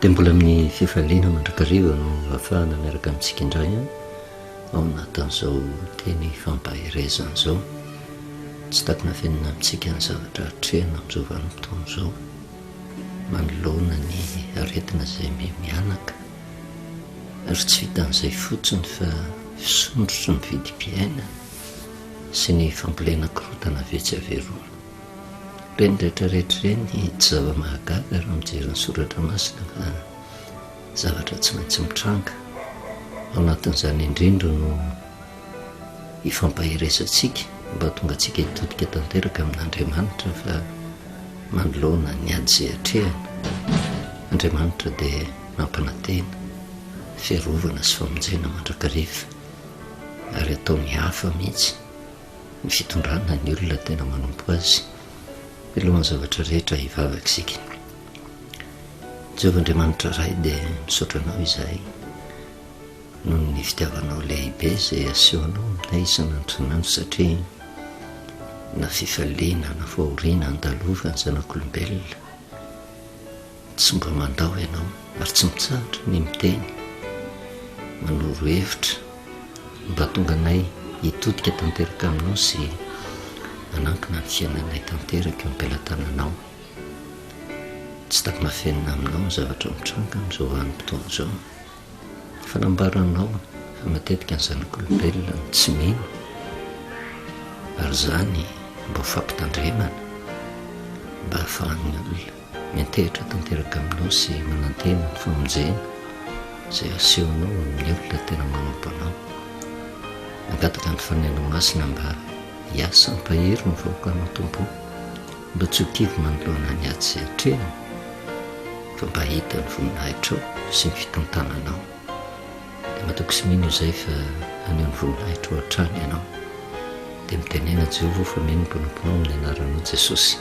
Dia mbola amin'ny fifaliana mandrakariva no afahana miaraka amintsika indray an ao anatin'izao teny fampaherezana izao tsy takina fenina amintsika ny zavatra atrehina amin'izao vanim-potoana izao manoloana ny aretina izay mianaka ary tsy vitan'izay fotsiny fa fisondrotry ny vidim-piainana sy ny fambolena korontana vetsy averora. Ireny rehetrarehetra ireny tsy zava-mahagaga raha mijery ny soratra masina fa zavatra tsy maintsy mitranga. Ao anatin'izany indrindra no hifampaheresantsika mba hatonga antsika hitodika tanteraka amin'Andriamanitra fa manoloana ny ady izay atrehana, Andriamanitra dia nampanantena fiarovana sy famonjena mandrakariva. ary ataony hafa mihitsy ny fitondrana ny olona tena manompo azy milohan'ny zavatra rehetra hivavaka isika Jehovah Andriamanitra Ray dia misaotra anao izahay noho ny fitiavanao lehibe izay asehonao aminay isan'andronandro satria na fifaliana na fahoriana andalovany zanak'olombelona Tsy mba mandao ianao ary tsy mitsahatra ny miteny, manoro hevitra mba hahatonga anay hitodika tanteraka aminao sy hanankina ny fiainanay tanteraka eo am-pelatananao. Tsy takin'afenina aminao ny zavatra mitranga amin'izao vanim-potoana izao. Efa nambaranao fa matetika ny zanak'olombelona no tsy mino ary izany mba ho fampitandremana mba hahafahan'ny olona Miantehitra tanteraka aminao sy manantena ny famonjena izay asehonao amin'ny olona tena manompo anao. Mangataka ny Fanahinao Masina mba hiasa hampahery ny vahoakanao Tompo o. Mba tsy ho kivy manoloana ny ady izay atrehany fa mba hahita ny voninahitrao sy ny fitantananao. Matoky sy mino izay fa haneho ny voninahitrao hatrany ianao. Dia mitenena Jehovah aho fa mino ny Tomponao amin'ny anaranao Jesosy.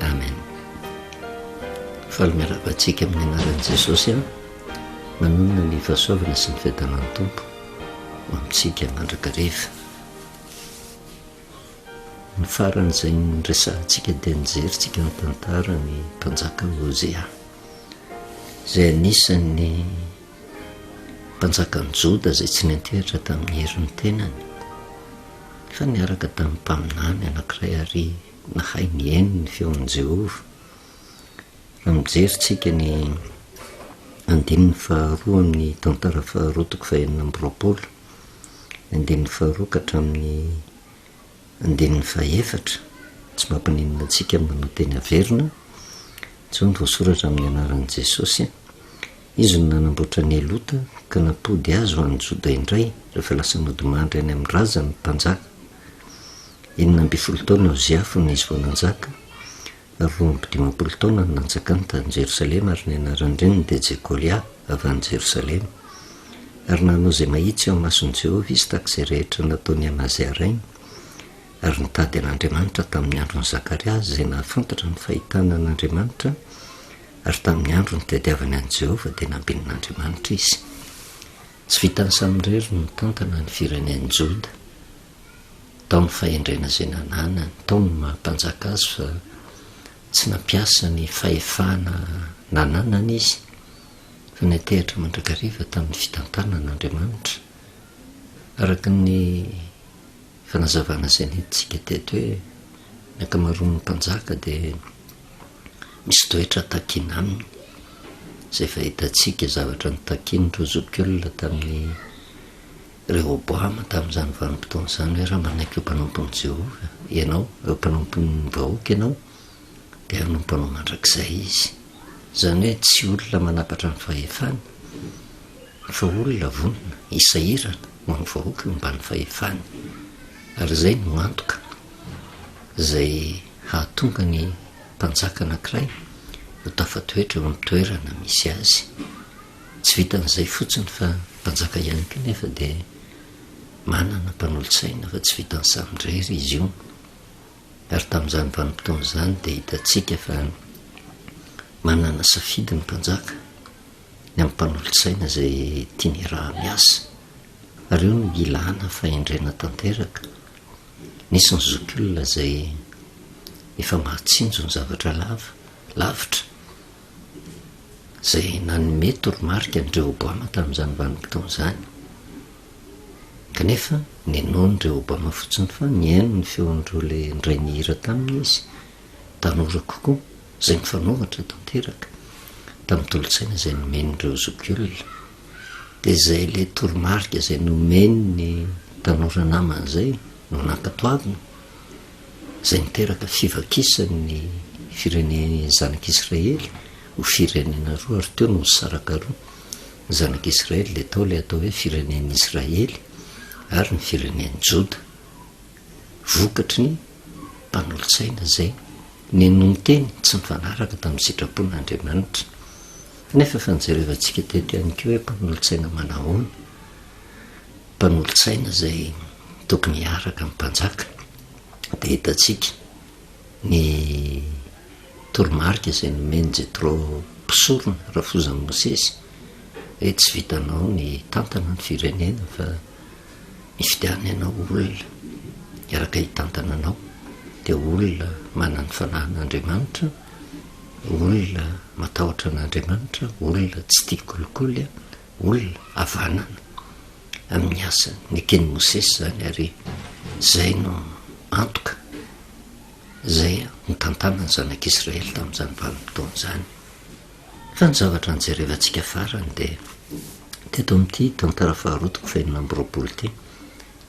Amen. Faly miarahaba antsika amin'ny anaran'i Jesosy aho. Manonona ny fahasoavana sy ny fiadanan'ny Tompo ho amintsika mandrakariva. Ny faran'izay niresahantsika dia nijerintsika ny tantaran'ny mpanjaka Hosea izay anisan'ny mpanjakan'ny Joda izay tsy niantehatra tamin'ny herin'ny tenany, fa niaraka tamin'ny mpaminany anankiray ary nahay niheno ny feon'i Jehovah. Raha mijery isika ny andininy faharoa amin'ny tantara faharoa toko fahenina amby roapolo, ny andininy faharoa ka hatramin'ny Andininy fahefatra, Tsy mampininona antsika ny manao teny haverina intsony voasoratra amin'ny anaran'i Jesosy. Izy no nanamboatra an'i Elota ka nampody azy ho an'ny Joda indray rehefa lasa nodimandry any amin'ny razany ny mpanjaka. Enina ambin'ny folo taona Ozia fony izy vao nanjaka, Roa amby dimampolo taona no nanjakany tany Jerosalema, ary ny anaran-dreniny dia Jekolia, avy any Jerosalema. Ary nanao izay mahitsy eo imason'i Jehovah izy tahaka izay rehetra nataon'i Amazia rainy, ary nitady an'Andriamanitra tamin'ny andron'i Zakaria izay nahafantatra ny fahitana an'Andriamanitra, ary tamin'ny andro nitadiavany an'i Jehovah dia nambenin'Andriamanitra izy. Tsy vitan'i Samriely nitantana ny firenen'i Joda. tamin'ny fahendrena izay nananany tao ny maha mpanjaka azy fa tsy nampiasa ny fahefana nananany izy fa natehitra mandrakariva tamin'ny fitantanana Andriamanitra araka ny fanazavana izay nentintsika teto hoe ny ankamaroan'ny mpanjaka dia misy toetra takina aminy izay fahitantsika zavatra nitakian'ireo zokiolona tamin'ny Rehoboama tamin'izany vanim-potoana izany hoe, Raha manaiky ho mpanompon'i Jehovah ianao, ho mpanompon'ny vahoaka ianao, dia hanompo anao mandrakizay izy. Izany hoe tsy olona manapatra ny fahefany, fa olona vonona hisahirana ho an'ny vahoaka eo ambany fahefany. Ary izay no antoka izay hahatonga ny mpanjaka anankiray ho tafatoetra eo amin'ny toerana misy azy. Tsy vitan'izay fotsiny fa mpanjaka ihany koa nefa dia manana mpanolotsaina fa tsy vitan'ny samy irery izy io. Ary tamin'izany vanim-potoana izany dia hitantsika fa manana safidy ny mpanjaka ny amin'ny mpanolotsaina izay tiany hiaraha-miasa. Ary io no ilàna fahendrena tanteraka. Nisy ny zokiolona izay efa mahatsinjo ny zavatra lava, lavitra. izay nanome toromarika an'i Rehoboama tamin'izany vanim-potoana izany. Kanefa, ninoan'i Rehoboama fotsiny fa nihaino ny feon'ireo ilay indray nihira taminy izy, tanora kokoa, izay nifanohitra tanteraka tamin'ny tolo-tsaina izay nomen'ireo zokiolona. Dia izay ilay toromarika izay nomeny ny tanora namany izay no nankatoaviny. izay niteraka fivakisany ny firenen'ny zanak'Israely ho firenena roa ary teo no nisaraka roa ny zanak'Israely dia tao ilay atao hoe firenen'ny Israely ary ny firenen'ny Joda vokatry ny mpanolotsaina izay ninonteny tsy nifanaraka tamin'ny sitrapon'Andriamanitra nefa efa nijerevantsika teto ihany koa hoe mpanolotsaina manahoana mpanolotsaina izay tokony hiaraka amin'ny mpanjaka, dia hitantsika ny toromarika izay nomen'i Jetro mpisorona rafozan'i Mosesy hoe tsy vitanao ny hitantana ny firenena fa mifidiana ianao olona hiaraka hitantana anao, dia olona manan'ny fanahin'Andriamanitra, olona matahotra an'Andriamanitra, olona tsy tia kolikoly, olona havanana amin'ny asany neken'i Mosesy izany ary izay no antoka izay nitantanan'ny zanak'Israely tamin'izany vanim-potoana izany. Fa ny zavatra nijerevantsika farany dia teto amin'ity tantara faharoa toko faheno amby roapolo ity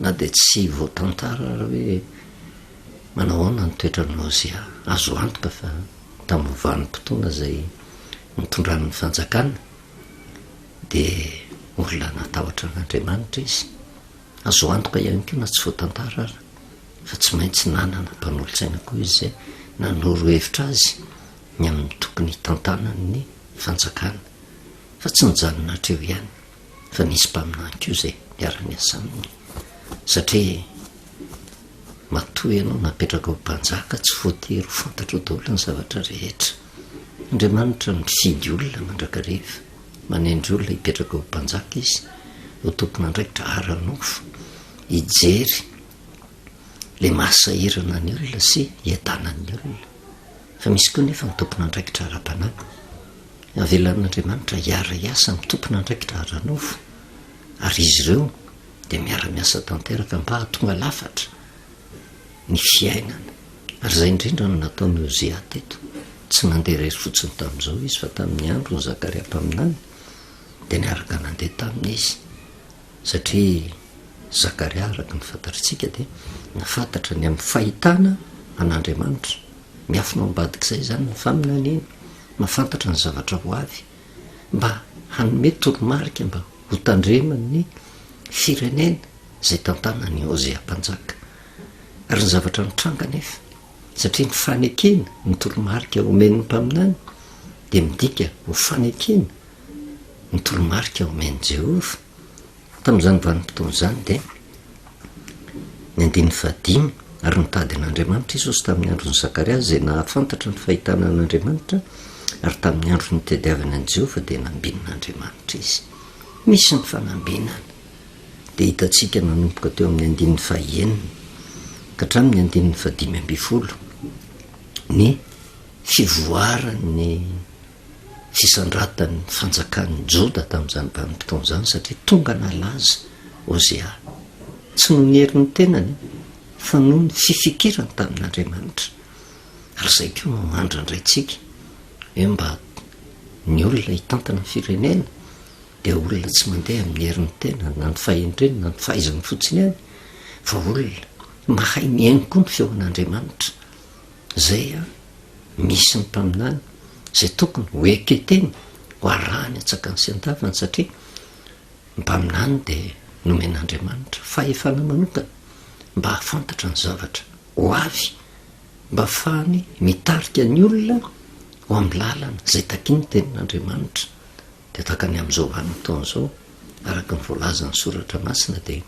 na dia tsy voatantara ary hoe manahoana ny toetran'i Mozia, azo antoka fa tamin'ny vanim-potoana izay nitondran'ny fanjakana dia olona natahotra an'Andriamanitra izy. Azo antoka ihany koa na tsy voatantara ary fa tsy maintsy nanana mpanolotsaina koa izy izay nanoro hevitra azy ny amin'ny tokony hitantanan'ny fanjakana. Fa tsy nijanona hatreo ihany fa nisy mpaminany koa izay niara-niasa aminy satria matoa ianao napetraka ho mpanjaka tsy voatery ho fantatrao daholo ny zavatra rehetra. Andriamanitra mifidy olona mandrakariva, manendry olona hipetraka ho mpanjaka Izy, ho tompon'andraikitra ara-nofo, hijery ilay mahasahirana ny olona sy hiadanan'ny olona. Fa misy koa nefa ny tompon'andraikitra ara-panahy. Avelan'Andriamanitra hiara-hiasa amin'ny tompon'andraikitra ara-nofo, ary izy ireo dia miara-miasa tanteraka mba hahatonga lafatra. ny fiainana, ary izay indrindra no nataon'i Ozia teto, tsy nandeha irery fotsiny tamin'izao izy, fa tamin'ny andron'i Zakaria mpaminany dia niaraka nandeha taminy izy, satria Zakaria araka ny fantatritsika dia nafantatra ny amin'ny fahitana an'Andriamanitra, miafina ao ambadik'izay izany ny faminaniana, mahafantatra ny zavatra ho avy, mba hanome toromarika mba hotandreman'ny firenena. izay tantanan' i Hosea Mpanjaka. Ary ny zavatra nitranga anefa, satria ny fanekena ny toromarika omen' ny mpaminany dia midika ho fanekena ny toromarika omen' i Jehovah. Tamin' izany vanim-potoana izany dia ny andininy fahadimy, Ary nitady an' Andriamanitra i Jesosy tamin' ny andron' i Zakariasy izay nahafantatra ny fahitana an' Andriamanitra, ary tamin' ny andro nitadiavany an' i Jehovah dia nambinin' Andriamanitra izy. Misy ny fanambinana. dia hitantsika manomboka teo amin'ny andininy fahaenina ka hatramin'ny andininy fahadimy ambin'ny folo ny fivoaran'ny fisandratan'ny fanjakan'ny Joda tamin'izany vanim-potoana izany satria tonga nalaza Hosea tsy noho ny herin'ny tenany fa noho ny fifikirany tamin'Andriamanitra. Ary izay koa no mandrandraintsika hoe mba ny olona hitantana ny firenena dia olona tsy mandeha amin'ny herin'ny tenany na ny fahendreny na ny fahaizany fotsiny ihany fa olona mahay mihaino koa ny feon'Andriamanitra. Izay an, misy ny mpaminany izay tokony ho eketeny ho arahany an-tsakany sy an-davany satria ny mpaminany dia nomen'Andriamanitra fahefana manokana mba hahafantatra ny zavatra ho avy mba hahafahany mitarika ny olona ho amin'ny lalana izay takian'ny tenin'Andriamanitra Dia tahaka ny amin'izao vanim-potoana izao, araka ny voalazan'ny soratra masina dia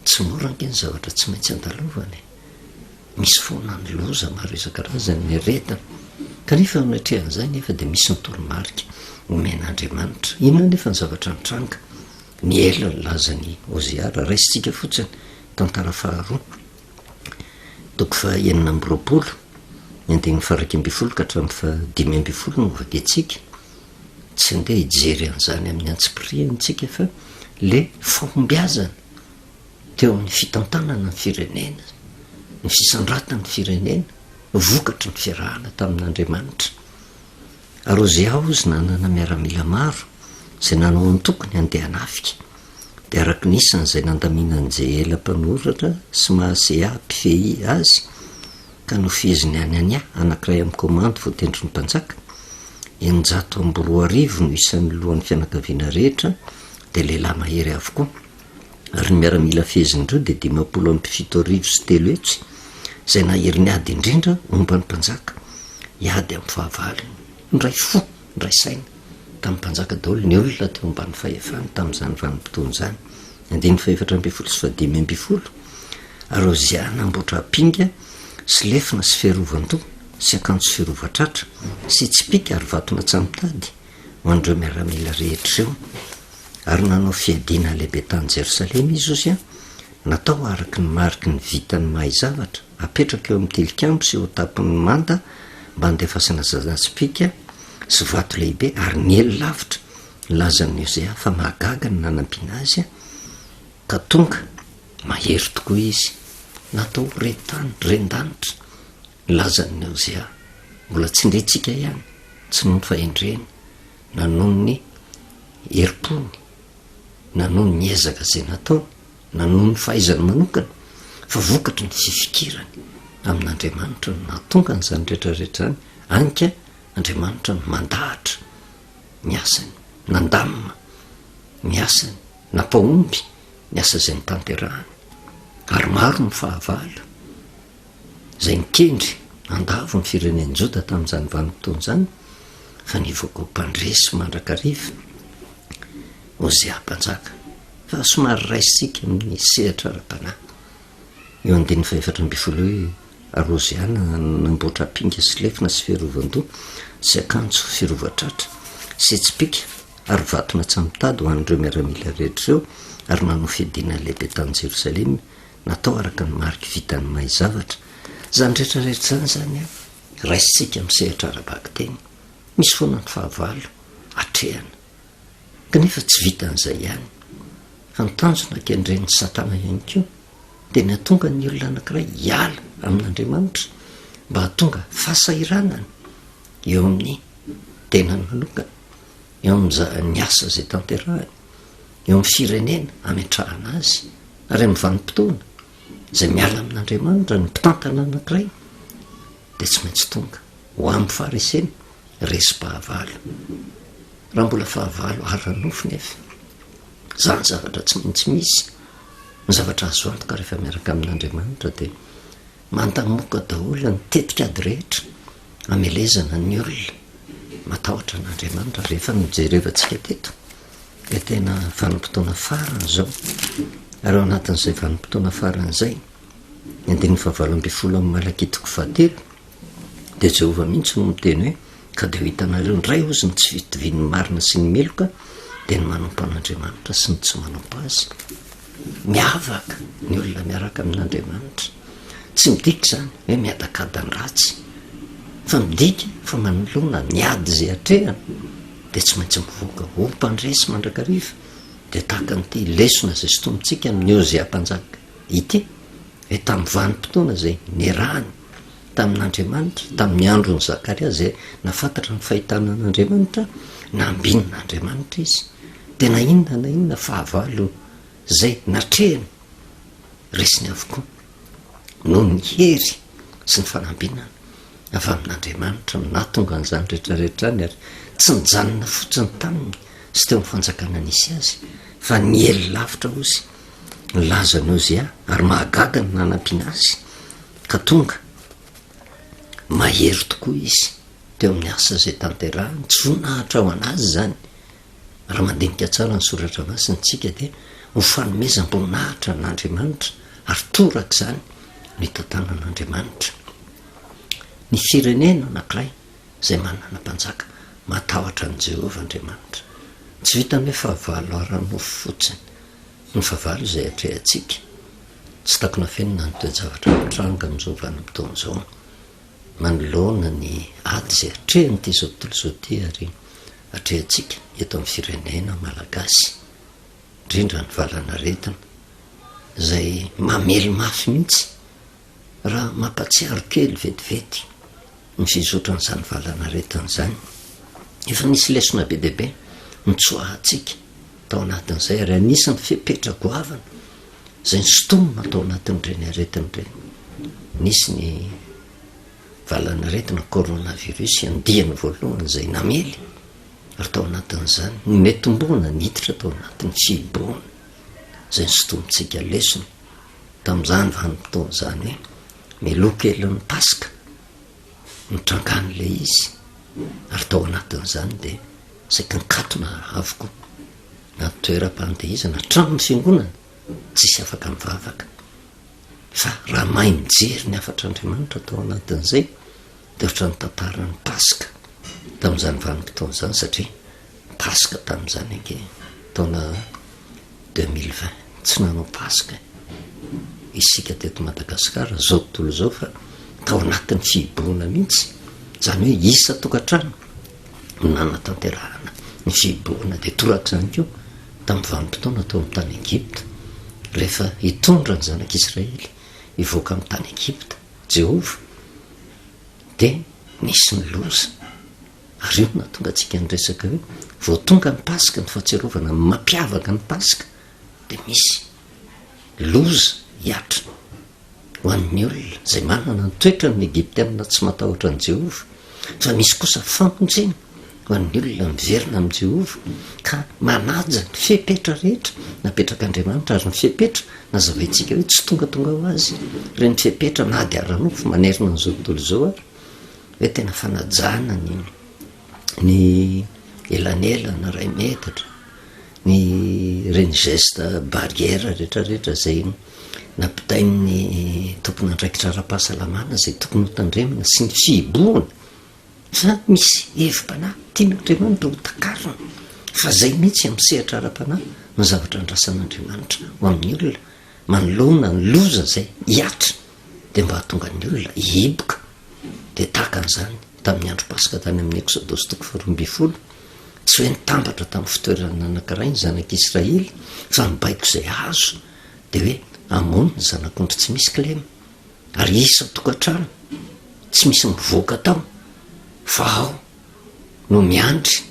tsy mora ange ny zavatra tsy maintsy andalovana e! Misy foana ny loza maro isan-karazany, ny aretina, kanefa eo anatrehan'izay anefa dia misy ny toromarika omen'Andriamanitra. Inona anefa ny zavatra nitranga? Ny ela nilazan'i Ozia, raha raisintsika fotsiny, tantara faharoa, toko fahenina amby roapolo, ny andininy faha iraika ambin'ny folo ka hatramin'ny faha dimy ambin'ny folo no hovakiantsika. tsy ndeha hijery an'izany amin'ny antsipiriany isika fa le fahombiazana teo amin'ny fitantanana ny firenena, ny fisandratan'ny firenena, vokatry ny fiarahana tamin'Andriamanitra. Ary ozy aho ozy nanana miaramila maro izay nanao antokony handeha hanafika, dia araky ny isany izay nandaminan'i Jehela mpanoratra sy Maaseà mpifehy azy, ka nofeheziny any Ania, anankiray amin'ny komandy voatendrin'ny mpanjaka, eninjato amby roa arivo no isan'ny lohan'ny fianakaviana rehetra, dia lehilahy mahery avokoa, ary ny miaramila fehezin'ireo dia dimampolo amby fito arivo sy telo hetsy, izay nahery niady indrindra momba ny mpanjaka, hiady amin'ny fahavalony. Niray fo. Nidray saina tamin'ny mpanjaka daholo ny olona teo ambany fahefany tamin'izany vanim-potoana izany, andininy fahefatra ambin'ny folo sy fahadimy ambin'ny folo, ary Ozia namboatra apinga sy lefona sy fiarovan-doha sy akanjo firovan-tratra sy tsipìka ary vaton'antsamitady ho an'ireo miaramila rehetra ireo, ary nanao fiadiana lehibe tany Jerosalema izy, Ozia, natao araka ny mariky ny vitan'ny mahay zavatra. Apetraka eo amin'ny tilikambo sy eo an-tampon'ny manta mba handefasana zazantsipìka sy vato lehibe ary niely lavitra. Nilazan'i Ozia fa mahagaga ny nanampiana azy ka tonga mahery tokoa izy. Natao ho ren-tany, ren-danitra, ny lazan'i Ozia. Mbola tsindrintsika ihany, tsy nony fa endreny, na noho ny herim-pony, na noho ny ezaka izay nataony. na noho ny fahaizany manokana, fa vokatry ny fifikirany amin'Andriamanitra no nahatonga an'izany rehetra rehetra izany, hany ka Andriamanitra no mandahatra ny asany, nandamina ny asany, nampahomby ny asa izay notanterahany. Ary maro ny fahavalo izay nikendry handavo ny firenen'i Joda tamin'izany vanim-potoana izany, fa nivoaka ho mpandresy mandrakariva Hosea Mpanjaka. Fa somary raisitsika amin'ny sehatra ara-panahy io andininy fahefatra ambin'ny folo io hoe, Ary Hoziana nanamboatra apinga sy lefona sy fiarovan-doha sy akanjo firovan-tratra sy tsipìka ary vaton'atsy mitady ho an'ireo miaramila rehetra ireo ary nanao fiadiana lehibe tany Jerosalema natao araka ny mariky vitan'ny mahay zavatra. Izany rehetra rehetra izany izany raisitsika amin'ny sehatra ara-bakiteny. Misy foana ny fahavalo atrehana. Kanefa tsy vitan'izay ihany, fa ny tanjona kendren'i Satana ihany koa dia ny hahatonga ny olona anankiray hiala amin'Andriamanitra mba hahatonga fahasahiranana eo amin'ny tenany manokana, eo amin'ny asa izay tanterahany, eo amin'ny firenena ametrahana azy, ary amin'ny vanim-potoana izay miala amin'Andriamanitra ny mpitantana anankiray dia tsy maintsy tonga. Ho am fahareseny resim-pahavalo. Raha mbola fahavalo ara-nofo nef zany zavatra tsy maintsy misy. Ny zavatra azo antoka rehefa miaraka amin' Andriamanitra dia mantamoka daholo ny tetikady rehetra amelezana ny olona matahotra an' Andriamanitra. Rehefa ny jerevantsika teto dia tena vanim-potoana farany izao ary ao anatin'izay vanim-potoana farany izay ny andininy fahavalo ambin'ny folo amin'ny Malakitiko fahatelo Dia Jehovah mihitsy no miteny hoe, Ka dia ho hitanareo indray hozy ny tsy fitovian'ny marina sy ny meloka, dia ny manompo an'Andriamanitra sy ny tsy manompo azy. Miavaka ny olona miaraka amin'Andriamanitra. Tsy midika izany hoe miadakada ny ratsy, fa midika fa manoloana ny ady izay atrehana, dia tsy maintsy mivoaka ho mpandresy mandrakariva. Dia tahaka an'ity lesona izay sintomintsika amin'i Ozia Mpanjaka ity, hoe tamin'ny vanim-potoana izay niarahany tamin'Andriamanitra, tamin'ny andron'i Zakaria izay nahafantatra ny fahitana an'Andriamanitra, nambinin'Andriamanitra izy, dia na inona na inona fahavalo izay natrehiny, resiny avokoa, noho ny hery sy ny fanambinana avy amin'Andriamanitra no nahatonga an'izany rehetra rehetra any, ary tsy nijanona fotsiny taminy sy teo amin'ny fanjakana nisy azy, fa niely lavitra ozy. nilaza an'i Ozia ary mahagaga ny nanampiana azy ka tonga mahery tokoa izy teo amin'ny asa izay tanterahiny, tsy voninahitra ho an'azy izany. Raha mandinika tsara ny soratra masina tsika dia ho fanomezam-boninahitra an'Andriamanitra ary torak'izany ny tantanan'Andriamanitra. Ny firenena anankiray izay manana mpanjaka matahotra an'i Jehovah Andriamanitra. Tsy vitan'ny hoe fahavalo ara-nofo fotsiny ny fahavalo izay atrehantsika. Tsy takona afenina ny toe-javatra mitranga amin'izao vanim-potoana izao. Manoloana ny ady izay atrehan'ity izao tontolo izao ity àry atrehantsika eto amin'ny firenena malagasy, indrindra ny valan'aretina izay mamely mafy mihitsy Raha mampatsiaro kely vetivety ny fizotran'izany valanaretina izany, efa nisy lesona be dia be nitsoahantsika tao anatin'izay ary anisan'ny fepetra goavana izay nosintomina tao anatin'ireny aretina ireny, nisy ny valanaretina coronavirus andiany voalohany izay namely ary tao anatin'izany nometimbohana niditra tao anatin'ny fihibohana izay nosintomintsika lesona. tamin'izany vanim-potoana izany hoe meloa kelin'ny paska nitrangan'ilay izy ary tao anatin'izany dia saika nikatona avokoa na toeram-pandihizana hatramin'ny fiangonana tsisy afaka mivavaka fa raha mahay mijery ny hafatr'Andriamanitra tao anatin'izay dia ohatrany tantaran'ny paska tamin'izany vanim-potoana izany satria Paska tamin'izany ange taona deux mille vingt, tsy nanao Paska isika teto Madagasikara zao tontolo zao fa tao anatin'ny fihibohana mihitsy, zany hoe isa tokantrano no nanatanterahana ny fihibohana de torak'izany koa tamin'ny vanim-potoana tao amin'ny tany Egypta rehefa hitondra ny zanak'Israely hivoaka amin'ny tany Egypta Jehovah de nisy ny loza. Ary eo no hahatonga antsika niresaka hoe vao tonga ny Paska, ny fahatsiarovana ny mampiavaka ny Paska dia misy loza hiatriny ho an'ny olona izay manana ny toetran'ny Egyptiana tsy matahotra an'i Jehovah, fa misy kosa famonjena ho an'ny olona miverina amin'i Jehovah ka manaja ny fepetra rehetra napetrak'Andriamanitra, ary ny fepetra nazavaintsika hoe tsy tongatonga ho azy ireny fepetra na dia ara-nofo manerana an'izao tontolo izao aza. hoe tena fanajana ny ny elanelana iray metatra, ny ireny geste barrière retraretra zay nampitain'ny tompon'andraikitra ara-pahasalamana zay tokony ho tandremana sy ny fihibohana, fa misy hevi-panahy tian'Andriamanitra ho takarina fa zay mihitsy amin'ny sehatra ara-panahy no zavatra andrasan'Andriamanitra ho amin'ny olona manoloana ny loza zay hiatriny. dia mba hahatonga ny olona hihiboka, dia tahaka an'izany tamin'ny andro Paska tany amin'ny Eksodosy toko faharoa ambin'ny folo, tsy hoe nitambatra tamin'ny fitoerana anankiray ny zanak'Israely, fa ny baiko izay azo dia hoe hamono ny zanak'ondry tsy misy kilema, ary isan-tokantrano, tsy misy mivoaka tao, fa ao. no miandry,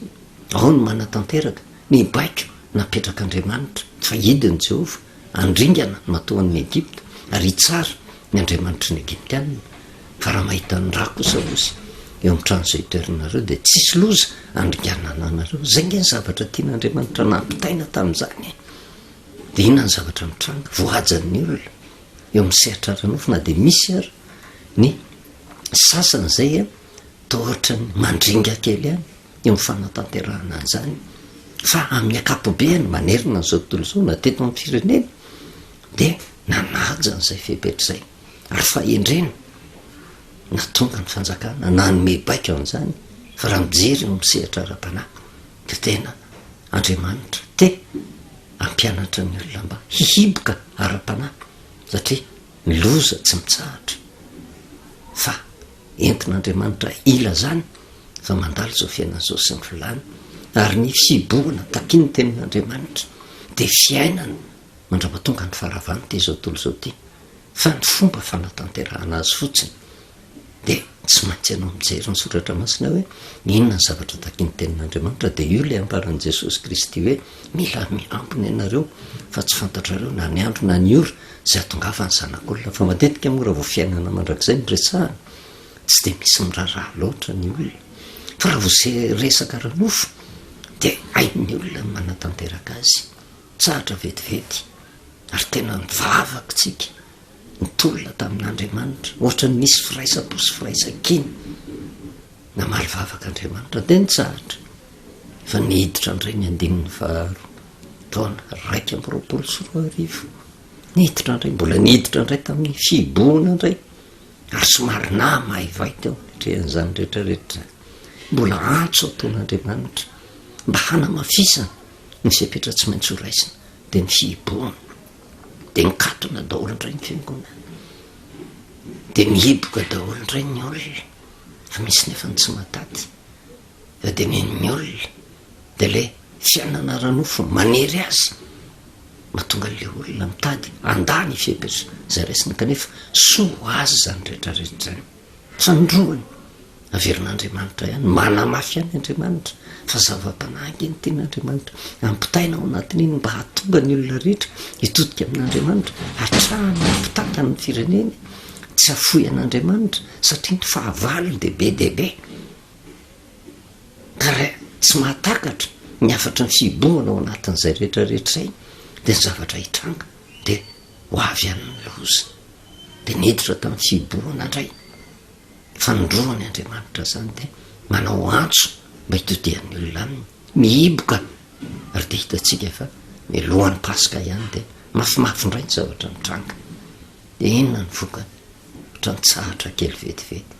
ao no manatanteraka ny baiko napetrak'Andriamanitra, fa hidiny i Jehovah, handringana ny matoan'ny Egypta, ary hitsara ny andriamanitry ny Egyptiana. Fa raha mahita ny ra kosa Osy eo amin'ny trano izay itoeranareo, dia tsy hisy loza handringanana anareo. Izay ange ny zavatra tian'Andriamanitra nampitaina tamin'izany e! Dia inona ny zavatra mitranga? Voajan'ny olona eo amin'ny sehatra ara-nofo, na dia misy ary ny sasany izay. Toa ohatran'ny mandringa kely ihany eo amin'ny fanatanterahana an'izany fa amin'ny ankapobeny manerana an'izao tontolo izao na teto amin'ny firenena dia nanaja an'izay fepetra izay ary fahendrena natonga ny fanjakana nanome baiko an'izany fa raha mijery eo amin'ny sehatra ara-panahy dia tena Andriamanitra te hampianatra ny olona mba hihiboka ara-panahy satria ny loza tsy mitsahatra fa Entin'Andriamanitra ilazany fa mandalo izao fiainana izao sy ny filany, ary ny fihibohana takian'ny Tenin'Andriamanitra dia fiainana mandrapatonga ny faharavan'ity izao tontolo izao ity, fa ny fomba fanatanterahana azy fotsiny dia tsy maintsy ianao mijery ny Soratra Masina hoe inona ny zavatra takian'ny Tenin'Andriamanitra, dia io ilay ambaran'i Jesosy Kristy hoe mila miambina ianareo fa tsy fantatrareo na ny andro na ny ora, izay hahatongavan'ny zanak'olona, fa matetika moa raha vao fiainana mandrakizay no resahana, tsy dia misy miraharaha loatra ny olona, fa raha vao se- resaka ara-nofo, dia hain'ny olona ny manatanteraka azy, tsahatra vetivety, ary tena nivavaka isika, nitolona tamin'Andriamanitra, ohatra ny nisy firaisam-po sy firaisan-kina, namaly vavaka Andriamanitra, dia nitsahatra. Efa niditra indray ny andininy faharoa, taona iraika amby roapolo sy roa arivo. Niditra indray, mbola niditra indray tamin'ny fihibohana indray, ary somary nama haivay teo anatrehan'izany rehetra rehetra izany. Mbola antso ataon'Andriamanitra mba hanamafisana ny fepetra tsy maintsy ho raisina, dia ny fihibohana. Dia mikatona daholo indray ny fiangonana. Dia mihiboka daholo indray ny olona, fa misy nefa ny tsy mahataty. Fa de ny an'ny olona de ilay tsy hanana ara-nofo manery azy mahatonga an'ilay olona mitady handà ny fihebes' izay raisina kanefa soa ho azy izany rehetra rehetra izany. Fanindroany, averin'Andriamanitra ihany, manamafy ihany Andriamanitra fa zava-panahy ange ny tenin'Andriamanitra, ampitaina ao anatin'iny mba hahatonga ny olona rehetra hitodika amin'Andriamanitra hatrany ampitàtany ny fireneny, tsy hafoy an'Andriamanitra satria ny fahavalony dia be dia be. ary tsy mahatakatra ny hafatry ny fihibohana ao anatin'izay rehetra retray dia ny zavatra hitranga dia ho avy an'ny loza dia niditra tamin'ny fihibohana indray fanindroany andriamanitra zany dia manao antso mba hitodian'ny olona aminy mihiboka ary dia hitatsika fa ny lohan'ny paska ihany dia mafimafy indray ny zavatra mitranga Dia inona ny vokany? Ohatra nitsahatra kely vetivety.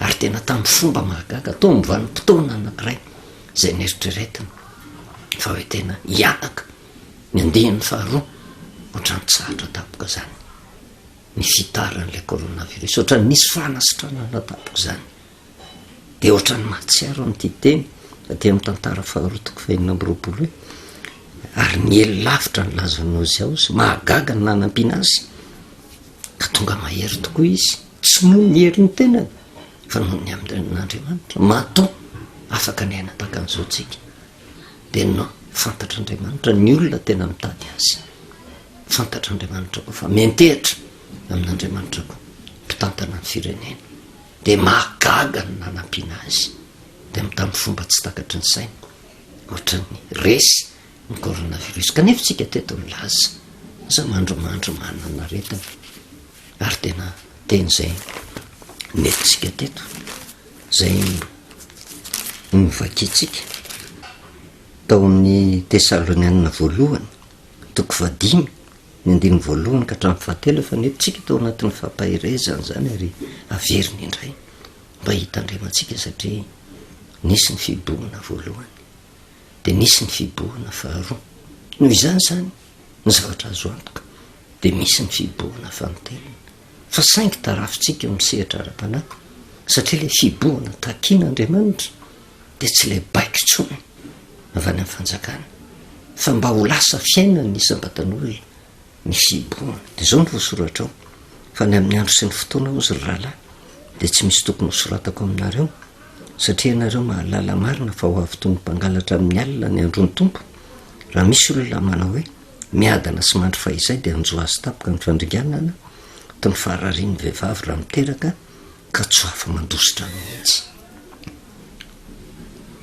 Ary tena tamin'ny fomba mahagaga, toa ny vanim-potoana anankiray izay neritreretina fa hoe tena hiataka ny andiany faharoa, ohatra nitsahatra tampoka izany ny fitaran'ilay coronavirus, ohatra nisy fanasitranana tampoka izany. dia ohatran'ny mahatsiaro an'ity teny aty amin'ny tantara faharoa toko fahenina amby roapolo hoe ary niely lavitra ny lazan'i Ozia Ozy, mahagaga ny nanampiana azy ka tonga mahery tokoa izy, tsy noho ny herin'ny tenany fa noho ny amin'Andriamanitra, mato afaka ny aina tahaka an'izao tsika dia no fantatr'Andriamanitra ny olona tena mitady azy, fantatr'Andriamanitra koa fa miantehitra amin'Andriamanitra koa mpitantana ny firenena. dia mahagaga ny nanampiana azy dia mi tamin'ny fomba tsy takatry ny saina ohatran'ny resy ny coronavirus kanefa tsika teto milaza aza mandrimandry manana aretina ary tena teny izay nentintsika teto zay novakiantsika tao amin'ny tesalonianina voalohany Toko fahadimy, ny andininy voalohany ka hatramin'ny fahatelo efa nentintsika tao anatin'ny fampaherezana izany ary averina indray mba hitandremantsika satria nisy ny fibohana voalohany dia nisy ny fibohana faharoa. Noho izany izany ny zavatra azo antoka dia misy ny fibohana fahantelina. fa saingy tarafintsika eo amin'ny sehatra ara-panahy, satria ilay fibohana takin'Andriamanitra dia tsy ilay baiko intsony avy any amin'ny fanjakana, fa mba ho lasa fiainan'ny isam-batan'olona ny fibohana. Dia izao no voasoratra ao, fa ny amin'ny andro sy ny fotoana, hozy ry rahalahy, dia tsy misy tokony hosoratako aminareo, satria ianareo mahalala marina fa ho avy toy ny mpangalatra amin'ny alina ny andron'ny Tompo, raha misy olona manao hoe, Miadana sy mandry fahizay dia hanjo azy tampoka ny fandringanana toy ny fahararian'ny vehivavy raha miteraka ka tsy ho afa-mandositra mihitsy.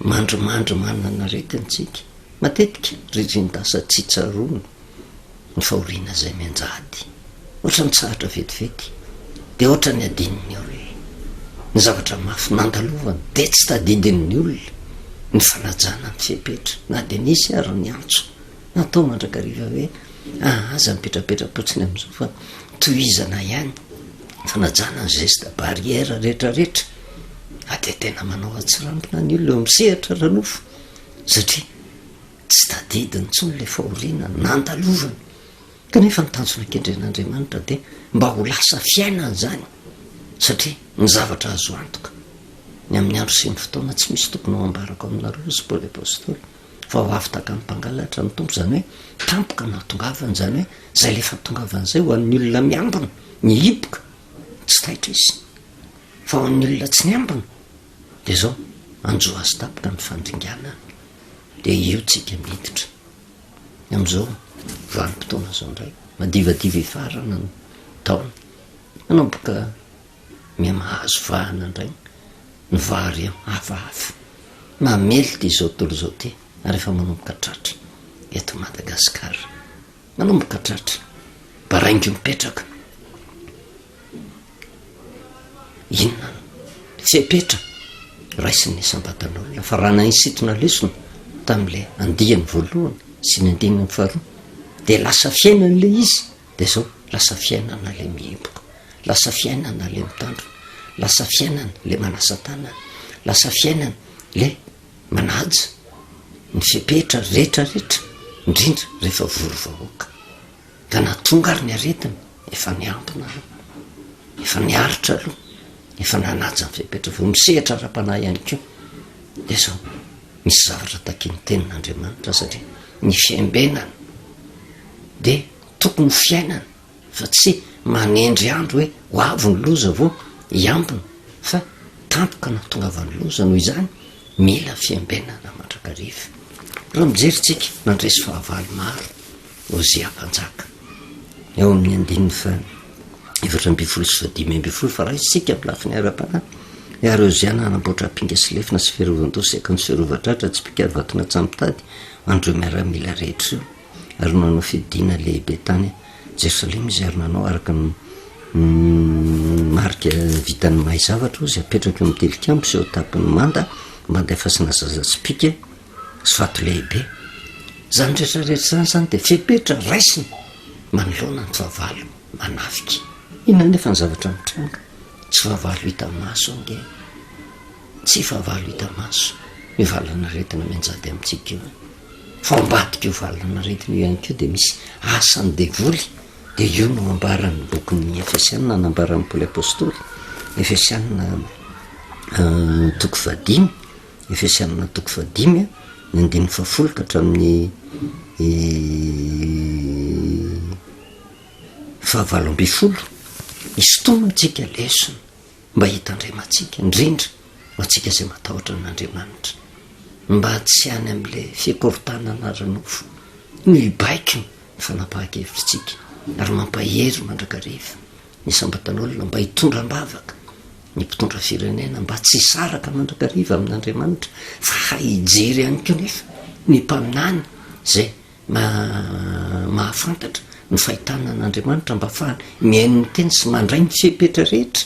Mandrimandry manana aretina isika, matetika ry Rindasa tsy tsaroana ny fahoriana izay mianjady. Ohatra ny tsahatra vetivety dia ohatra ny adinon'ny olona. Ny zavatra mafy nandalovany dia tsy tadidin'ny olona ny fanajana ny fepetra na dia nisy ary ny antso. Natao mandrakariva hoe ah aza mipetrapetrapotsiny amizao fa tohizana ihany fanajana ny geste barrière retraretra ah de tena manao atsirambina ny olona eo am sehatra ranofo satria tsy tadidiny intsony le fahoriana nandalovany kanefa ny tanjona kendren'andriamanitra de mba ho lasa fiainany zany satria ny zavatra azo antoka ny amin'ny andro sy ny fotoana tsy misy tokony ho ambarako aminareo sy paoly apostoly vao avy takan'ny mpangalatra ny Tompo, izany hoe tampoka no atongavany, izany hoe izay le fahatongavany izay, ho an'ny olona miambina, ny hipoka, tsy taitra izy, fa ho an'ny olona tsy miambina, dia izao, anjo azy tampoka ny fandringanany, dia eo tsika miditra, amin'izao vanim-potoana izao indray, madivadiva hifarana ny taona, manomboka. Miha mahazo vahana indray ny vary hafahafa mamely ity izao tontolo izao ity ary efa manomboka tratra eto Madagasikara. Manomboka tratra. Baraingo mipetraka. Inona ny fepetra raisin'ny isam-batan'olona fa raha nahisintona lesona tamin'ilay andiany voalohany sy ny andininy faharoa dia lasa fiainan'ilay izy dia zao, lasa fiainana le mihiboka, lasa fiainana le mitandrina, lasa fiainana le manasa tanana, lasa fiainana le manaja ny fepetra retraretra indrindra rehefa vory vahoaka. Ka na tonga ary ny aretina efa niambina aloha, efa niaritra aloha, efa nanaja ny fepetra, vao misehatra ara-panahy ihany koa dia zao. Ny zavatra takin'ny Tenin'Andriamanitra satria ny fiambenana dia tokony ho fiainana fa tsy manendry andro hoe ho avy ny loza vao hiambina fa tampoka nahatongavan'ny loza, noho izany mila fiambenana mandrakariva. Raha mijery tsika nandresy fahavalo maro Hosea Mpanjaka, ao amin'ny andininy faha-efatra ambin'ny folo sy fahadimy ambin'ny folo, fa raha isika amin'ny lafiny ara-panahy, ary Hosea nanamboatra apinga sy lefona sy fiarovan-doha sy akanjo fiarovan-tratra tsy mpikary vaton'atsy mitady an'ireo miaramila rehetra ireo, ary nanao fidiana lehibe tany Jerosalema izy, ary nanao araka ny marika vitan'ny mahay zavatra, Hosea apetraka eo amin'ny tilikambo sy eo an-tampon'ny manda, manda efa tsy nazaza tsipìka. Soato lehibe. Izany rehetra rehetra izany izany dia fepetra raisina manoloana ny fahavalo manafika. Inona anefa ny zavatra mitranga? Tsy fahavalo hita maso ange. Tsy fahavalo hita maso io valan'aretina mianjady amintsika io. Fa ao ambadik'io valan'aretina io ihany koa dia misy asan'ny devoly. Dia io no ambaran'ny bokin'ny Efesianina nambaran'i Paoly Apostoly, Efesianina toko fahadimy. Efesianina toko fahadimy ny andininy fahafolo ka hatramin'ny fahavalo ambin'ny folo, hisintomina antsika lesona mba hitandremantsika indrindra ho antsika izay matahotra an'Andriamanitra, mba tsy any amin'ilay fikorontanana ara-nofo no hibaiko ny fanapahan-kevitritsika ary mampahery mandrakariva. Ny isam-batan'olona mba hitondra am-bavaka ny mpitondra firenena mba tsy hisaraka mandoa kariva amin'Andriamanitra fa hay hijery ihany koa nefa ny mpaminany izay mahafantatra ny fahitana an'Andriamanitra mba afahany mihaino ny teny sy mandray ny fepetra rehetra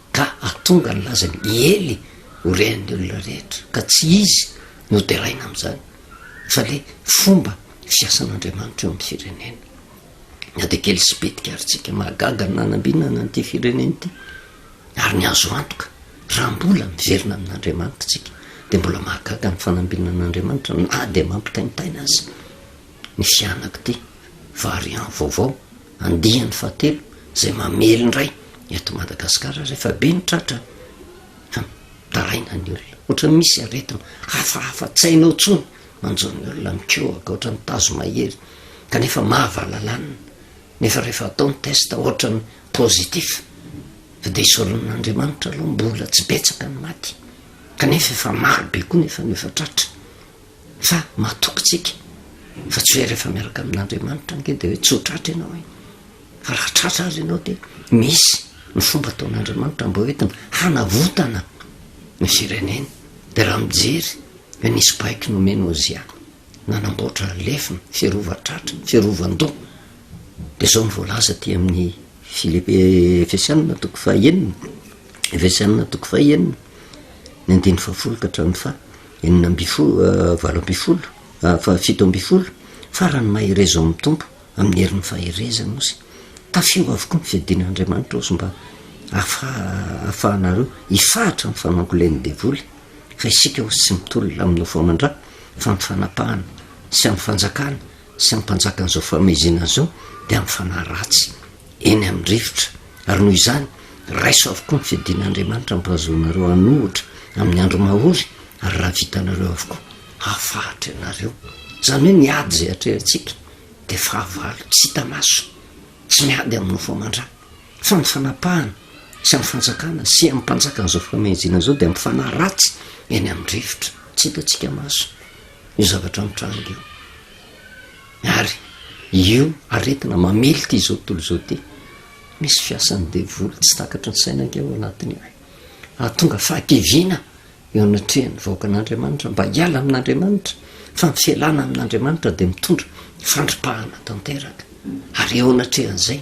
Ka hahatonga ny lazany i Ely ho rehan'ny olona rehetra, ka tsy izy no deraina amin'izany, fa ilay fomba fiasan'Andriamanitra eo amin'ny firenena. Na dia kely sy bitika ary tsika, mahagaga ny nanambinana an'ity firenena ity, ary ny azo antoka, raha mbola miverina amin'Andriamanitra tsika, dia mbola mahagaga ny fanambinan'Andriamanitra na dia mampitaintaina aza ny fianak'ity variant vaovao Andiany fahatelo izay mamely indray eto Madagasikara rehefa be ny tratra mitaraina ny olona, ohatran'ny misy aretina hafahafa tsy hainao intsony manjo ny olona, mikohaka ohatran'ny tazo mahery kanefa mahavalalanina nefa rehefa atao ny test ohatran'ny positif fa dia isoron'Andriamanitra aloha mbola tsy betsaka ny maty kanefa efa maro be koa nefa no efa tratra. Fa matoky tsika fa tsy hoe rehefa miaraka amin'Andriamanitra ange dia hoe tsotra atra ianao e! Fa raha tratra aza ianao dia misy ny fomba ataon'Andriamanitra mba hoentina hanavotana ny firenena. Dia raha mijery hoe nisy baiko nomen'i Ozia nanamboatra lefona, firovan-tratra, firovan-doha, dia izao no voalaza aty amin'ny Filipi- Efesiana toko fahenina, Efesiana toko fahenina, ny andininy fahafolo ka hatramin'ny faha. Enina ambin'ny folo, valo ambin'ny folo, fa fito ambin'ny folo, Farany mahereza ao amin'ny Tompo, amin'ny herin'ny faherezany Osy. Tafio avokoa ny fiadiana Andriamanitra Osy mba hahafahanareo hifahatra amin'ny fanangolen'ny devoly, fa isika Osy tsy mitolona amin'ny nofo aman-dra, fa amin'ny fanapahana, sy amin'ny fanjakana, sy ny mpanjakan'izao fahameizina izao dia mifanahy ratsy eny amin'ny rivotra, ary noho izany raiso avokoa ny fiadian'Andriamanitra ampahazoanareo hanohitra amin'ny andro mahory, ary raha vitanareo avokoa, hafahatra ianareo. Izany hoe ny ady izay atrehantsika dia fahavalo tsy hita maso, tsy miady amin'ny nofo aman-dra, fa ny fanapahana sy amin'ny fanjakana sy amin'ny mpanjakan'izao fahameizina izao dia mifanahy ratsy eny amin'ny rivotra, tsy hitantsika maso. io zavatra mitranga io, ary io aretina mamely ity izao tontolo izao ity, misy fiasan'ny devoly tsy takatry ny saina ange ao anatiny ao, hahatonga fahakiviana eo anatrehan'ny vahoakan'Andriamanitra mba hiala amin'Andriamanitra, fa ny fialana amin'Andriamanitra dia mitondra fandripahana tanteraka, ary eo anatrehan'izay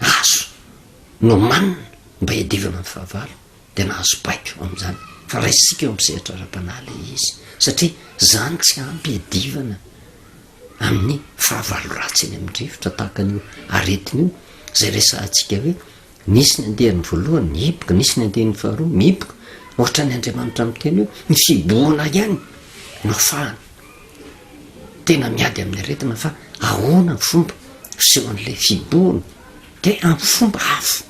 Gaso nomanina mba hiadivana amin'ny fahavalo dia nahazo baiko amin'izany fa raisisika eo amin'ny sehatra ara-panahy ilay izy satria izany tsy ampy hiadivana amin'ny fahavalo ratsy eny amin'ny rivotra tahaka an'io aretina io izay resahantsika hoe nisy ny andiany voalohany mihiboka, nisy ny andiany faharoa mihiboka, ohatran'ny Andriamanitra miteny hoe ny fihibohana ihany no fahana. tena miady amin'ny aretina fa ahoana ny fomba fisehoan'ilay fiborona dia amin'ny fomba hafa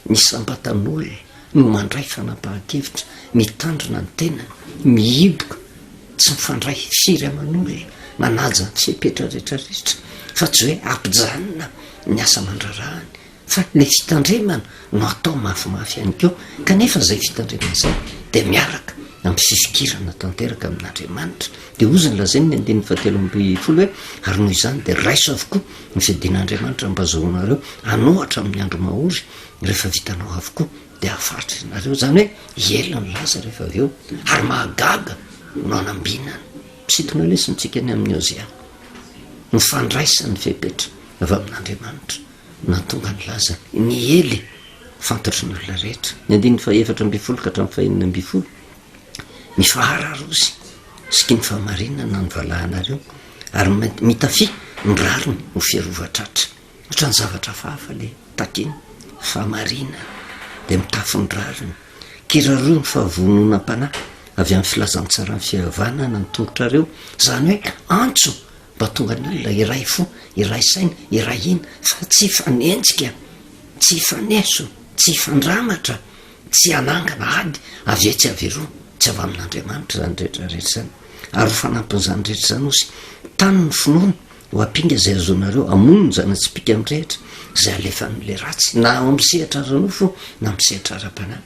ny isam-batan'olona no mandray fanapahan-kevitra mitandrina ny tenany mihiboka tsy mifandray firy aman'olona manaja ny fepetra rehetra rehetra fa tsy hoe ampijanona ny asa mandrarahany Fa ilay fitandremana no atao mafimafy ihany koa, kanefa izay fitandremana izay dia miaraka amin'ny fifikirana tanteraka amin'Andriamanitra. Dia hoy izy ny lazainy ny andininy fahatelo ambin'ny folo hoe, Ary noho izany dia raiso avokoa ny fidin'Andriamanitra mba hazahoanareo hanôhatra amin'ny andro mahory, rehefa vitanao avokoa dia hahafaritra ianareo. Izany hoe hiela ny lasa rehefa avy eo. Ary mahagaga no hanambinana. Misintona lesona antsika ny amin'i Hôseà ny fandraisany fepetra avy amin'Andriamanitra. Nahatonga ny lazany. Ny Ely, fantatry ny olona rehetra. Ny andininy fahaefatra ambin'ny folo ka hatramin'ny fahenina ambin'ny folo, Mifahararosy sy kino fahamarinana ny valahanareo, ary mitafia ny rariny ho fiarovana tratra. Ohatran'ny zavatra hafahafa ilay takina. Fahamarinana dia mitafy ny rariny. Kiraroy ny fahavononam-panahy avy amin'ny filazantsaran'ny fihavanana ny tongotrareo, izany hoe antso. Mba tonga ny olona iray fo, iray saina, iray hina, fa tsy hifanenjika, tsy hifaneso, tsy hifandramatra, tsy hanangana ady avy etsy avy eroa, tsy avy amin'Andriamanitra izany rehetra rehetra izany. Ary ho fanampin'izany rehetra izany osy, tano ny finoana, ho ampinga izay azonareo, amono ny zana-tsipìka mirehitra izay alefan'ilay ratsy, na ao amin'ny sehatra ara-nofo na amin'ny sehatra ara-panahy.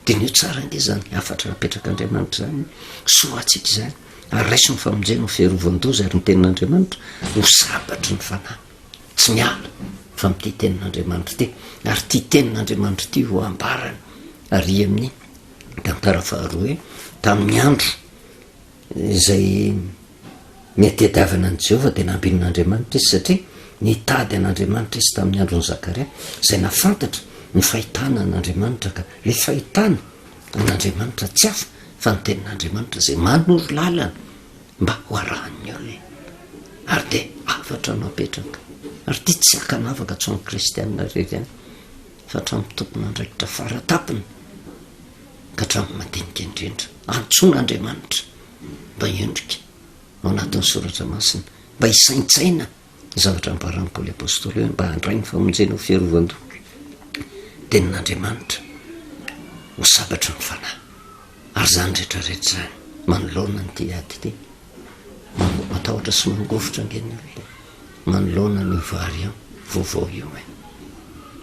Diniho tsara ange izany hafatra napetrak'Andriamanitra izany, soa ho antsika izany, ary raiso ny famonjena ho fiarovan-doza, ary ny tenin'Andriamanitra ho sabatry ny fanahy. Tsy miala fa amin'ity tenin'Andriamanitra ity, ary ity tenin'Andriamanitra ity ho ambarany, ary amin'ny tantara faharoa hoe, tamin'ny andro Izay nihatehadiavana an'i Jehovah dia nampian'Andriamanitra izy, satria nitady an'Andriamanitra izy tamin'ny andron'i Zakaria, izay nahafantatra ny fahitana an'Andriamanitra, ka ilay fahitana an'Andriamanitra tsy hafa fa ny Tenin'Andriamanitra izay manoro lalana mba ho arahan'ny olona, ary dia hafatra napetraka, ary ity tsy hakanavaka tsy ho an'ny kristiana irery ihany. fa hatramin'ny tompon'andraikitra fara tampony ka hatramin'ny madinika indrindra. Antsoina Andriamanitra mba hiondrika ao anatin'ny soratra masina, mba hisaintsaina ny zavatra ambaran'i Paoly Apostoly hoe mba handray ny famonjena ho fiarovan-doha ny tenin'Andriamanitra ho sabatra ny fanahy. Ary izany rehetra rehetra izany manoloana an'ity ady ity. Matahotra sy mangovitra ange ny olona. Manoloana an'io variant vaovao io e!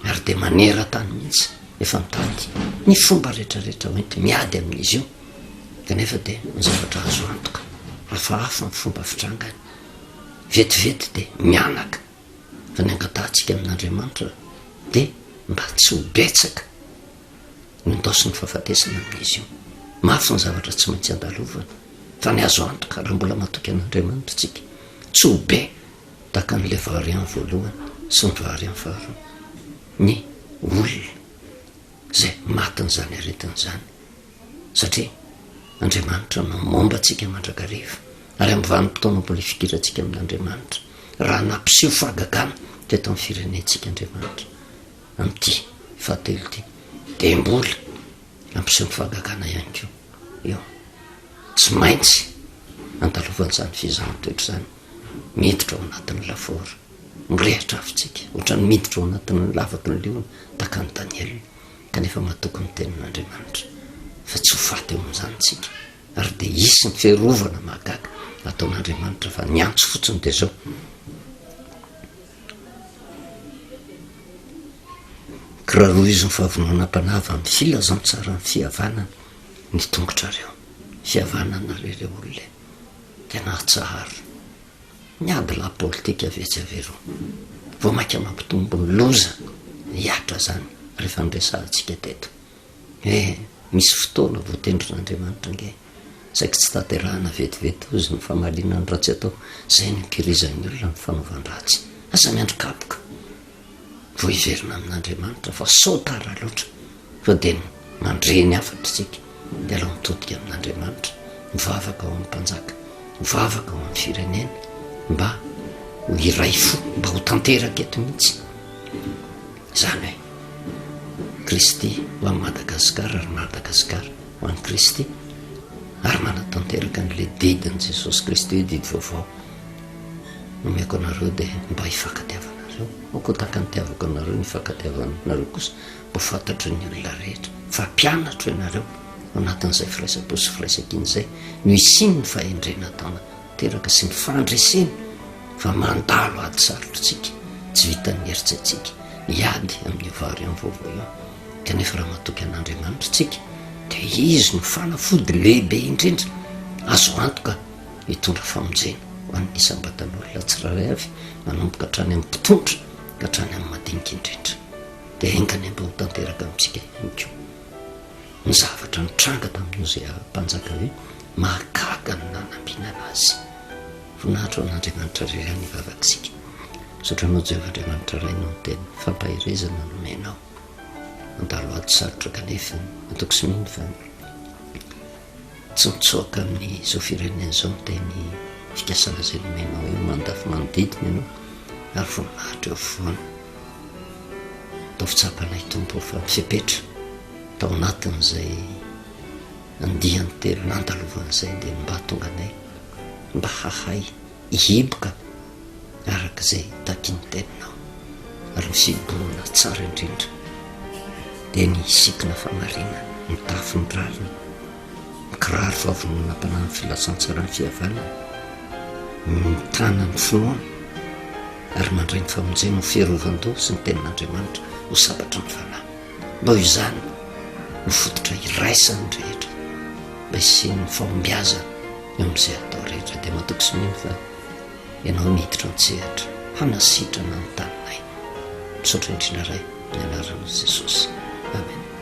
ary dia maneran-tany mihitsy efa mitady ny fomba rehetra rehetra hoenti miady amin'izy io kanefa dia ny zavatra azo antoka hafahafa ny fomba fitrangany vetivety dia mianaka fa ny angatahantsika amin'Andriamanitra dia mba tsy ho betsaka Nendosiny ny fahafatesana amin'izy io. Mafy ny zavatra tsy maintsy andalovana, fa ny azo antoka, raha mbola matoky an'Andriamanitra isika, tsy ho be tahaka an'ilay variant voalohany sy ny variant faharoa ny olona izay matin'izany aretina izany, satria Andriamanitra no momba antsika mandrakariva, ary amin'ny vanim-potoana mbola hifidirantsika amin'Andriamanitra, raha nampiseho fahagagana teto amin'ny firenentsika Andriamanitra. Amin'ity fahatelo ity dia mbola hampiseho ny fahagagana ihany koa io. Tsy maintsy andalovan'izany fizahan-toetra izany miditra ao anatin'ny lafaoro. Mirehitra avy isika, ohatran'ny miditra ao anatin'ny lavaky ny liona tahaka an'i Daniela, kanefa matoky ny Tenin'Andriamanitra fa tsy ho faty eo amin'izany isika. Ary dia hisy ny fiarovana mahagaga ataon'Andriamanitra fa ny antso fotsiny dia izao. Kirarohiziny fa vononam-panava amin'ny filazantsaran'ny fihavanana ny tongotrareo. Fihavanana re rey olona e! Tena atsaharo. Miady lahy politika ve tsy avereo. Vao maika mampitombo ny loza, hihatra zany rehefa niresahantsika teto. Eh! Misy fotoana voatendrin'Andriamanitra ange saiky tsy tanterahana vetivety hozy ny famaliana ny ratsy atao, zay no ikirizan'ny olona amin'ny fanaovan-dratsy. Aza miandry kapoka vao hiverina amin'Andriamanitra fa sao tara loatra fa dia mandre ny hafatra isika. Dia alao mitodika amin'Andriamanitra, mivavaka ho an'ny mpanjaka, mivavaka ho an'ny firenena mba ho iray fo, mba ho tanteraka eto mihitsy. Izany hoe, Kristy ho an'i Madagasikara ary Madagasikara ho an'i Kristy, ary manatanteraka an'ilay didin'i Jesosy Kristy hoe didy vaovao nomeko anareo dia mba hifankatiavanareo, aoka tahaka ny itiavako anareo ny ifankatiavanareo kosa mba ho fantatrin'ny olona rehetra fa mpianatro ianareo, ao anatin'izay firaisampo sy firaisankina izay no hisian'ny fahendrena taona teraka sy ny fandreseny fa mandalo ady sarotra tsika tsy vitan'ny heritsaitsika ny ady amin'ny variant vaovaoion kanefa raha matoky an'andriamanitra tsika de izy no fanafody lehibe indrindra azo antoka hitondra famonjena ho an'ny isambatan'olona tsiraray avy manomboka hatrany amin'ny mpitondra ka hatrany amin'ny madinika indrindra de engany mba ho tanteraka amintsika ihany ko Ny zavatra nitranga tamin'i Hosea mpanjaka hoe mahagaga ny nanampiana anazy. Voninahitra ho an'Andriamanitra irery any vavak'isika. Misaotra anao Jehovah Andriamanitra Ray noho ny teny fampaherezana nomenao. Mandalo ady sarotra kanefa antoko sy mino fa tsy mitsoaka amin'izao firenena izao ny teny fikasana izay nomenao eo mandafy manodidina ianao ary voninahitra eo afovoany. Ataovy tsapa anay Tompo fa fepetra tao anatin'izay andiany telo nandalovany izay dia mba tonga anay mba hahay hihiboka araka izay takin'ny teninao ary ny fiborona tsara indrindra dia ny sikina famarinana ny tafiny rariny Mikiraro vavon'olona mpanao ny filazantsara ny fihavanana no mitana ny finoana ary mandray ny famonjena ho fiarovan-doha sy ny tenin'Andriamanitra ho sabatra ny fanahy. Noho izany no fototra iraisan'ny rehetra mba hisian'ny fahombiazana eo amin'izay atao rehetra. Dia matoky sy mino fa Ianao no hiditra an-tsehatra hanasitrana ny taninay. Misaotra indrindra Ray, amin'ny anaran'i Jesosy. Amen.